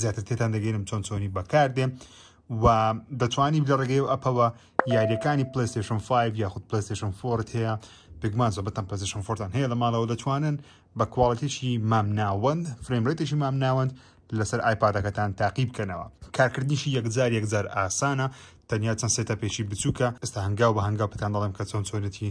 زیاتر تێتان دەگەینم چۆن چۆنی بەکاردێ و دەتوانی لە ڕێگەی و ئەپەوە یاریەکانی پلیستشن 5 یاخود پلیستشن فۆرت هەیە پێگومان زۆبەتەن پلیستشن فۆرتان هەیە لە ماڵەوە دەتوانن بە کوواڵەتێکی مامناوەند فرێمرێتێکی مامناوەند لەسەر ئایپادەکەتان تاقی بکەنەوە کارکردنیشی یەکجار یەکجار ئاسانە تەنیا چەند سێتە پێشی بچووکە ئستا هەنگاو بە هەنگاو پێتان دەڵێم کە چۆن چۆنێتی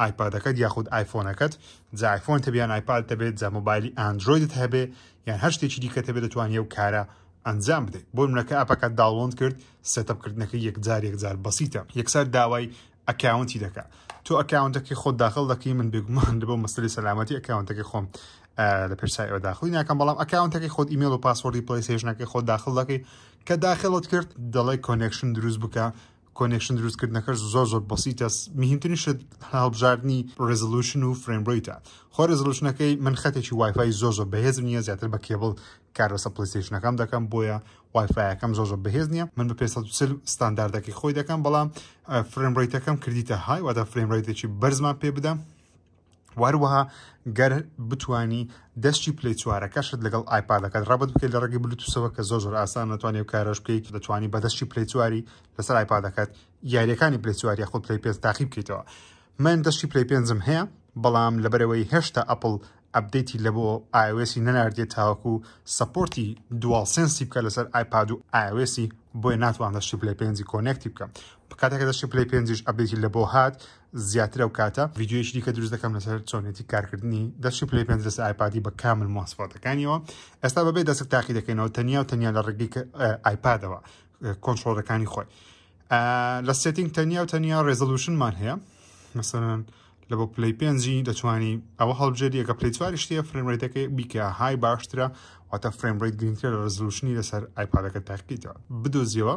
ئایپادەکەت یاخود ئایفۆنەکەت جا ئایفۆن تەبێ یان ئایپاد تەبێت جا مۆبایلی ئاندرۆیدت هەبێ یان هەر شتێکی دیکە تەبێت دەتوانانی ئەو کارە ئەنجام بدەیت بۆ منەکە ئەپەکە داڵۆند کرد سێتەپکردنەکە یەکجار یەکجار بەسیتە یەکسەر داوای ئەکاونتی دەکە تۆ ئەکاونتەکەی خۆ داخل دەکەی من بێگومان لە بۆ مەسلی سەلامەتی ئەکاونتەکەی خۆم لە پێشسای ئەوە داخلی ناکەم بەڵام ئەکاونتەکەی خۆت ئیمێل و پاسوەردی پلیسێژنەکەی خۆ داخل دەکەی کە داخلت کرد دەڵێ کۆنێکشن دروست بکە کۆنێکشن دروست کردنەکەش زۆر زۆر بەسیتە مهمترین شت هەڵبژاردننی ڕێزلوشن و فرێمبریتە خۆ ڕێزلوشنەکەی من خەتێکی وایفای زۆر زۆر بەهێز نییە زیاتر بە کێبڵ کار بەسە پلیستیشنەکەم دەکەم بۆیە وایفایەکەم زۆر زۆر بەهێز نییە من بە پێ ستانداردەکەی خۆی دەکەم بەڵام فرێمبریتەکەم کردیتە های واتە فرێمبریتێکی بەرزمان پێ بدەم وهروەها گەر بتانی دەستی پلی چوارەکەشت لەگەڵ ئایپادەکەت ڕبت بکەیت لە ڕێگەی بلوتوسەوە کە زۆر زۆر ئاسان نتوانانی و کارش بکەیت دەتوانانی بە دەستی پلی چواری لەسەر ئایپادەکەت یاریەکانی پلی چواری خۆ پلی پێنج تاقی بکەیتەوە من دەستی پلی پێنجم هەیە بەڵام لەبەرەوەی هێشتا ئەپل ئەبدەیتی لە بۆ ئاوێسی نەناردێت تاوەکو سپۆرتی دوال سنسی بکە لەسەر ئایپاد و ئاوێسی بۆیە ناتوان دەستی پلی پێنجی کۆنێکتی بکەم کاتێکە دەستی پلی پێنجش ئەبدەیتی لە بۆ هات زیاتر ئەو کاتە ڤیددیویش دیکە دروست دەکەم لەسەر چۆنێتی کارکردنی دەشی پلی پێ دەست ئایپادی بە کامل ماسفاتەکانیەوە ئێستا بەبێ دەسک تاقی دەکەینەوە تەنیا و تەنیا لە ڕگی ئایپادەوە کۆنتترۆلەکانی خۆی لە سێتنگ تەنیا و تەنیا ڕێزلوشنمان هەیە مثلەن لە بۆ پلی پێنجی دەتوانی ئەوە هەڵبژێری ئەگە پلی چواری شتە فرێمرێتەکەی بیکە های باشترە واتە فرێمڕیت گرنگتر لە ڕزلوشنی لەسەر ئایپادەکە تاقیتەوە بدۆزیەوە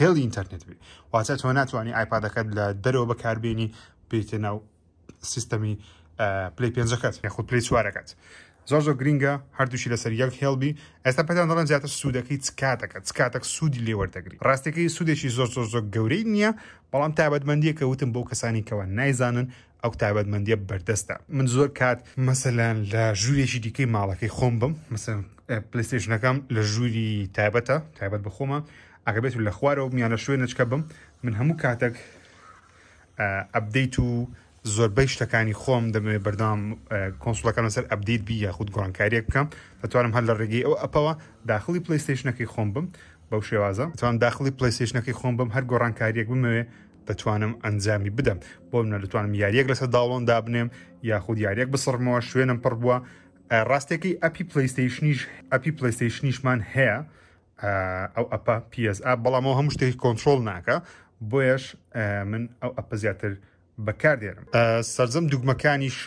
هێڵی ئینتەرنێت بێ واتە تۆ ناتوانانی ئایپادەکەت لە دەرەوە بەکاربیێنی پێتە ناو سیستەمی پلی پێنجەکەت یاخود پلی چوارەکەت زۆر زۆر گرینگە هەردووشی لەسەر یەک هێڵبی ئێستا پێدان دەڵێن زیاتر سوودەکەی چکاتەکە چکاتەک سوودی لێوەردەگری ڕاستەکەی سوودێکی زۆر زۆر زۆر گەورەی نییە بەڵام تابەتمەندیەکە وتم بۆ کەسانی کەەوە نایزانن ئەو تایبەتمەندیە بەردەستە من زۆر کات مەسەلەن لە ژوورێکی دیکەی ماڵەکەی خۆم بم مەسەن پلیستێشنەکەم لە ژووری تایبەتە تایبەت بخۆمە ئەگەبێت و لە خوارەوە میان لە شوێن نچکە بم من هەموو کاتێک ئەبدەیت و زۆربەی شتەکانی خۆم دەمەوێت بەردام کۆنسڵەکەم لەسەر ئەبدیت بی یاخود گۆڕانکاریەک بکەم دەتوانم هەر لە ڕێگەی ئەو ئەپەوە داخلی پلیستشنەکەی خۆم بم بەو شێوازە توان داخلی پلیستشنەکەی خۆم بم هەر گۆڕانکاریەک بمەوێ دەتوانم ئەنجامی بدەم بۆ منە دەتوانم یاریەک لەسەر داڵۆن دابنێم یاخود یاریەک بسڕمەوە شوێنم پڕ بووە ڕاستێکی ئەپی پلیستیشنیش ئەپی پلیستیشنیشمان هەیە ئەو ئەپە PS ئە بەڵامەوە هەموو شتێکی کۆنتترۆل ناکە بۆیش من ئەو ئەپە زیاتر بەکاردێنم سرجەم دوگمەکانیش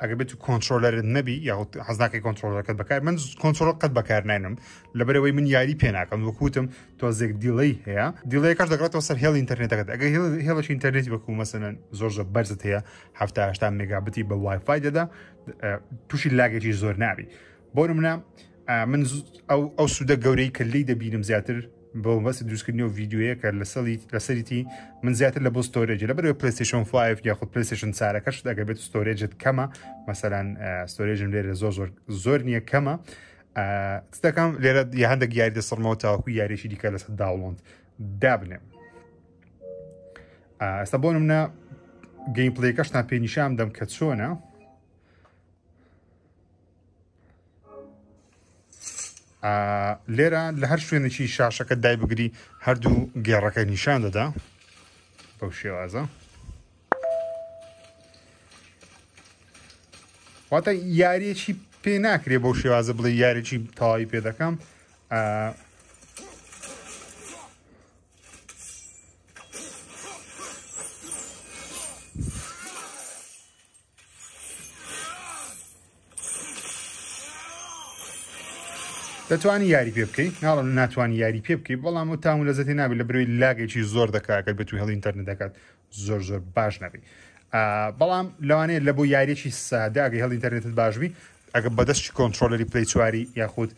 ئەگە بێت و کۆنتترۆلەرت نەبی یاخود حەزناکەی کۆنتترۆلەکەت بەکار من کۆنتترۆل قەت بەکار ناێنم لەبەرەوەی من یاری پێ ناکەم وەکوتم تۆزێک دیڵی هەیە دیڵەکەش دەگاتەوە سەر هێڵ ئینتەرنێتەکەت ئەگە هێڵش ئینتەرنێت وەکو مەسەن زۆر زە بەرزت هەیە هەفتاهشتا مێگابتی بە وایفای دەدا تووشی لاگەی زۆر نابی بۆ منە من ئەو ئەو سوودە گەورەی کە لی دەبینم زیاتر بەمەبەستی دروستکردنی و ڤیدیۆیە کە لەسەریتی من زیاتر لە بۆ ستۆرێج لە بەرەوە پلیستشن 5 یاخود پلیستشن سارەکەش دەگە بێت ستۆرێجت کەمە مەسەلاەن ستۆرێژم لێرە زۆر زۆر زۆر نییە کەمە دەکەم لێرە یا هەندێک یاری دەسڕمەوە تاوەکو یاریشی دیکە لەسەر داوڵند دابنێم ئەستا بۆ منە گەیم پلەکەشتان پێنیشام دەم کە چۆنە لێرە لە هەر شوێنێکی شاشەکە دای بگری هەردوو گێڕەکە نیشان دەدا بەو شێوازە واتە یاریەکی پێ ناکرێ بەو شێوازە بڵێ یاریی تەواوی پێ دەکەم دەتوانی یاری پێ بکەی ناڵم ناتوانانی یاری پێ بکەی بەڵام و تام و لەزەتی نابێت لە بروی لاگەیی زۆر دەکاکە بە توی هەڵ ئینتەرنت دەکات زۆر زۆر باش نەبی بەڵام لەوانەیە لە بۆ یاریێکی ساداگەی هەڵ ئینتەرنێتت باشبی ئەگە بەدەستی کۆنتترۆلەری پلی چواری یاخود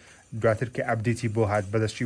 دواتر کە ئەبدیتی بۆ هات بەدەستی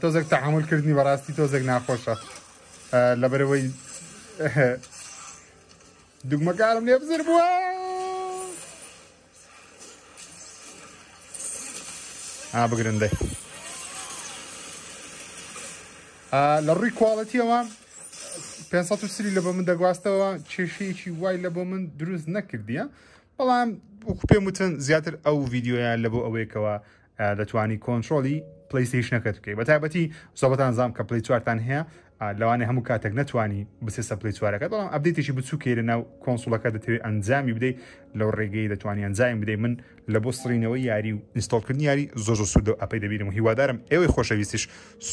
تۆزێک تەحمل کردنی بەڕاستی تۆزێک ناخۆشە لەبەرەوەی دگمەکارم لێ بزر بووە بگرن دەی لە ڕووی کوواڵەتیەوە 530 لە بۆ من دەگواستەوە کێشەیەکی وای لە بۆ من دروست نەکردیە بەڵام وەکو پێم وتن زیاتر ئەو ڤیددیویان لە بۆ ئەوەیەکەوە دەتوانی کۆنتترۆلی پلیستیشنەکەت بکەی بە تایبەتی زۆبەتان زام کە پلی چوارتان هەیە لەوانێ هەموو کاتێک نتوانی بسێسە پلی چوارەکە بەڵام ئەبدێتیشی بچووکەی لە ناو کۆنسوڵەکە دەتەوێت ئەنجامی بدەیت لەو ڕێگەی دەتوانانی ئەنجامی بدەیت من لە بۆ سڕینەوەی یاری و ئینستۆڵکردنی یاری زۆ زۆ سوودە و ئەپەی دەبیرم و هیوادارم ئێوەی خۆشەویستیش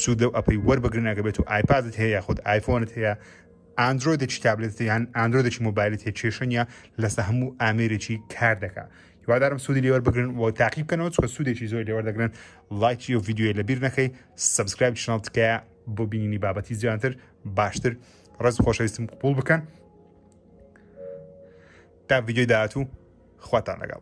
سوودە و ئەپەی وەربگرنەکە بێت و ئایپادت هەیە یاخود ئایفۆنت هەیە ئاندرۆیدێکی تابلێت یان ئاندرۆدێکی مۆبایلت هەیە کێشەنە لەسە هەموو ئامێرێکی کار دەکە هیوادارم سوودی لێوەر بگرن و تاقی بکەنەوە چکە سوودێکی زۆر لێوەر دەگرن لایکی و یددیوی لەبیر نەکەی سبسکرایب چناڵ تکایە بۆ بینینی بابەتی زیاتر باشتر ڕز خۆشەویستم قوپول بکەن تا یددیوی داهاتوو خواتان لەگەڵ